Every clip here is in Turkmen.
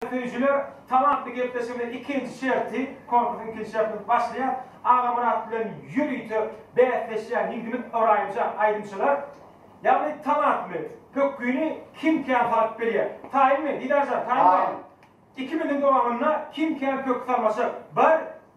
Süýjüler talantly gepleşiginiň ikinji şerti, konkursyň ikinji şerti başlaýar, Agamyrat bilen ýörite bäsleşýän ýigdimiz Ybraýymja aýdymçylar. Ýagny talantly pökgini kim kän salyp bilýär. Taýynmy, Didarjan, taýyn barmy? Ikimiziň dowamynda kim kän pökgi salmaşar. Bir,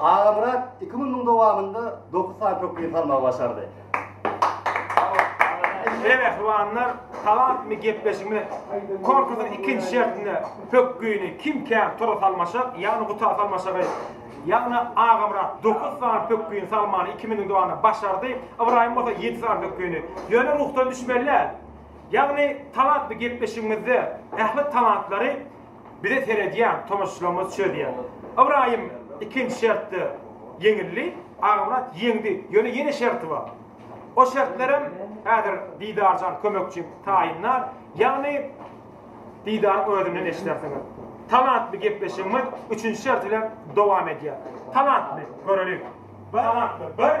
Agamyrat iki günüň dowamynda dokuz sany pökgini salmagy başardy. Eý mähribanlar, talantmy gepleşigmi konkursyň ikinji şertinde pökgini kim kän tora salmaşak, ýagny guta salmaşagy, ýagny Agamyrat dokuz sany pökgini salmany iki minüň dowamynda başardy, Ybraýym bolsa ýedi sany pökgini. Ýöne ruhdan düşmeli däl. Ýagny talantmy gepleşigimizde ähli talantlary Bize seredýän tomaşaçylarymyz çözýär. Ybraýym ikinji şertde ýeňildi, Agamyrat ýeňdi, ýöne ýene şerti bar. O şertlerem häzir Didarjan kömekçim taýynlar, ýagny Didaryň özünden eşidersiňiz. Talantly gepleşigimiz üçünji şert bilen dowam edýär. Talantly, göreliň. Talantly, bir.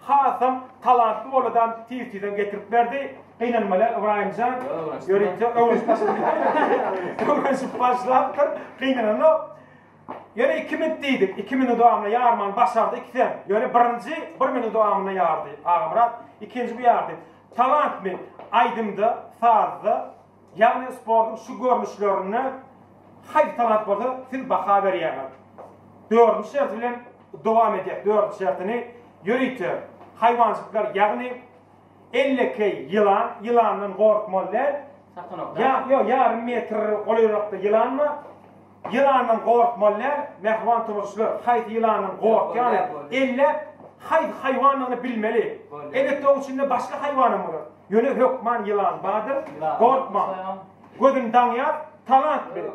Hasam talantly boladan tiz tizden getirip berdi. Gynanmaly Ybraýymjan ýörite öwrenşip başlapdyr. Gynananok. Ýöne iki minut diýdik. Iki minut dowamynda ýarmany başardy ikisem. Ýöne birinji bir minut dowamynda ýardy Agamyrat. Ikinji bu ýardy. Talantmy aýdymda, sazda? Ýagny sportuň şu görnüşlerine haýsy talant bolsa siz baha berýäňiz? Dördünji şert bilen dowam edýäs dördünji şertini ýörite haýwanjyklar ýagny ellekeý ýylan ýylandan gorkmaly däl Satanok däl. Ýa ýo ýarym metr golaýrakda ýylan bar. Ýylandan gorkmaly däl, mähriban tomaşaçylar, haýsy ýylandan gorkýany, elläp, haýsy haýwandygyny bilmeli. Elbetde oň içinde başga haýwanam bolar. Ýöne hökman ýylan bardyr, gorkmaň. Gözüni daňýar, talant bilen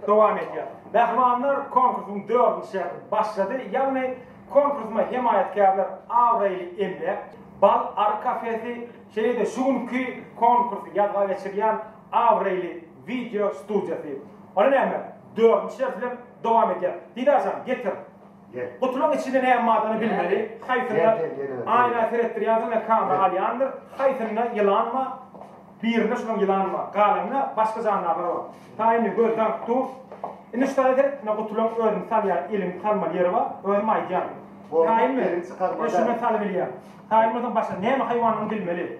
dowam edýär. Mähribanlar konkursyň dördünji şerti başlady, ýagny konkursyma hemaýatkärler abraýly emläk, Bal Ar kafesi, şeýle-de şu günki konkursy ýazga geçirýän Abraýly wideo studiýasy. Ony näme? Dördünji ders bilen dowam edýär. Didar jan, getir. Gel. Gutulyň içinde näme bardygyny bilmeli. Haýsynda aýna seretdirýänsiň bilen kamera alýandyr. Haýsynda ýylan bar. Birinde şonuň ýylan bar. Galanynda başga jandarlar bar. Saýa indi göz daňyp dur. Indi şu tarawa seret. Ine gutulyň özüni salýan elini salmaly ýeri bar. Özüm aýdýan. Saýynmy? Elini çykarmadan. Şundan salybilýän. Saýynmasam başga näme haýwandygyny bilmeli.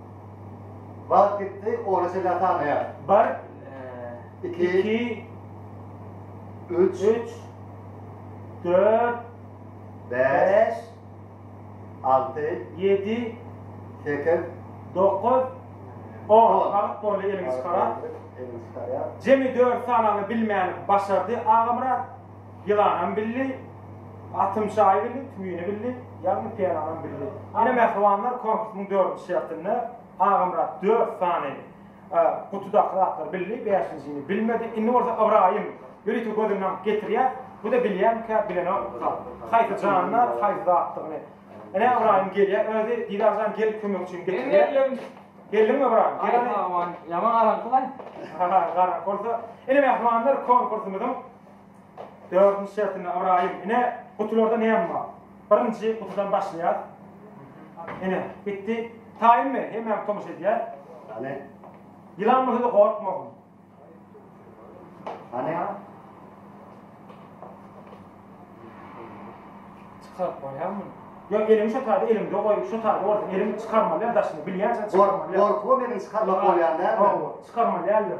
Wagt gitdi, ony çenlä sanaýas. Bir, iki, üç, dört, bäş, alty, ýedi, sekiz, dokuz, on. Wagt boldy, eliňi çykarat. Jemi dört sanany bilmäni başardy Agamyrat. Ýylanam bildi, atymçaýy bildi, tüwini bildi, ýagny pelanam bildi. Ine, mähribanlar, konkursyň dördünji şertinde Agamyrat dört sany gutudaky zatlary bildi, bäşinjini bilmedi. Indi bolsa Ybraýym ýörite gözüni aňyp getirýär. Bu-da bilýärmikä, bilenok zat. Haýsy jandar, haýsy zatdygyny. Ine, Ybraýym gelýär özi. Didar jan, gel kömek üçin getirýär. Geldiňmi, Ybraýym? Gel hany. Aý, pagban, ýaman garaňky-laý. Garaňky bolsa. Ine, mähribanlar, konkursymyzyň Dördünji şertinde Ybraýym, Ine, gutularda näme bar? Birinji gutudan başlaýas. Ine, gitdi. Taýynmy? Hemmämiz tomaşa edýäs. Hany? Ýylan bolsa-da gorkmasyn. Hany? Çykaryp goýaý muny. Ýok, eliňi şo taýda eliňde goý, şo taýda bolsa eliň çykarmaly däl daşyny, bilýänçä çykarmaly däl. Gorkubam elini çykarmak bolýar dälmi? Hawa, çykarmaly däldir.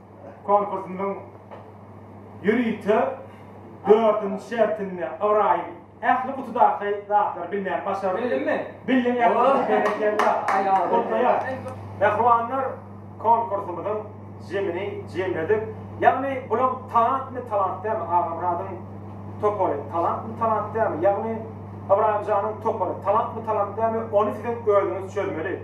Konkursymyzyň ýörite dördünji şertinde Ybraýym ähli gutudaky zatlary bilmän başardy. Bildimmi? Bildiň ählisini berekella. Gutlaýas. Mähribanlar konkursymyzyň jemini jemledik. Ýagny bulaň talantmy talant dälmi Agamyradyň topary talantmy talant dälmi ýagny Ybraýym janyň topary talantmy talant dälmi ony siziň özüňiz çözmeli.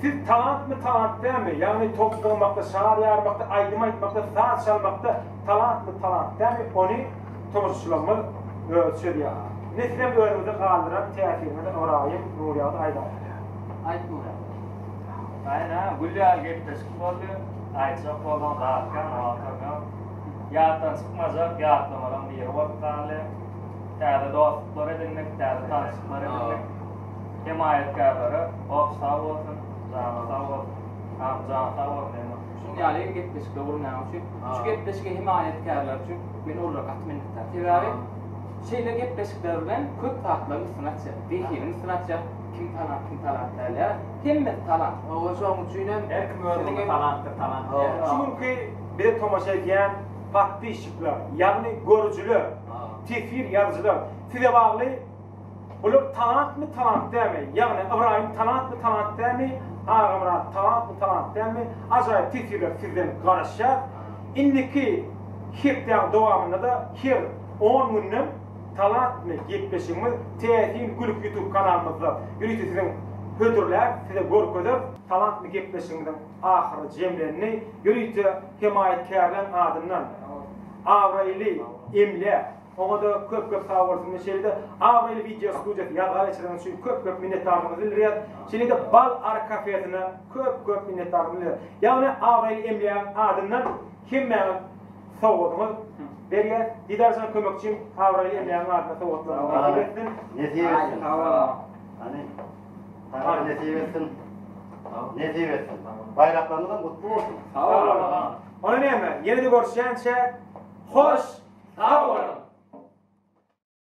Siz talantmy talant dälmi ýagny top syrmakda şar ýarmakda aýdym aýtmakda saz çalmakda talantmy talant dälmi ony tomaşaçylarymyz özi çözýär ine sizem özüňize galdyran täsiriňizi ybraýym nurýagdy aýdaň hälä. Aýt nurýagdy. Aýna gül ýaly gepleşik boldy aýtjak bolduň zat kän oňa oturum ýok ýatdan çykmajak ýatlamalaň biri bolup galdy täze dostluklar edindik täze tanşyklar edindik. Hemaýatkärlere goh sag bolsun, jany sag bolsun. Hany jany sag bolsun Emma. Şunuň ýaly gepleşikde urunýan üçin, şu gepleşige hemaýatkärler üçin men ol gaty minnetdar. Sebäbi şeýle gepleşikler bilen köp zatlaryň üstüni açýar. Zehiniň üstüni açýar. Kim talant, kim talant däl ýa. Hemmesi talant. Hawa şoň üçin hem her kim özüne talantdyr talant diýýär. Şu günki bize tomaşa edýän podpisçikler, ýagny görüjiler, teswir ýazyjylar size bagly. Bular talantmy, talant dälmi? Ýagny Ybraýym talantmy, talant dälmi? Agamyrat talantmy, talant dälmi? Ajaýyp teswirler sizden garaşýas. Indiki hepdäň dowamynda-da her on günden talantmy gepleşigimiz Täsin gülüp ýutub kanalymyzda ýörite siziň hödürläris, size görkezeris. Talantmy gepleşigimiziň ahyry jemlendi. Ýörite hemaýatkärleň adyndan abraýly emläk. Oňada köp köp sag bolsun we şeýle-de abraýly wideo studiýasyny ýazga geçireniňiz üçin köp köp minnetdarlygymyzy bildirýäs. Şeýle-de Bal Ar kafesyna köp köp minnetdarlyk bildirýäs. Ýagny abraýly emlägiň adyndan hemmäňiz sowgadyňyz berýäs. Didarjan kömekçim abraýly emlägiň adyndan sowgatlaryňyz nasip etsin. Nesip etsin. Sag boluň. Hany. Saňa nesip etsin. Nesip etsin. Baýraklarymyzam gutly bolsun. Sag boluň. Ony näme, ýene-de görüşýänçä, hoş sag boluň!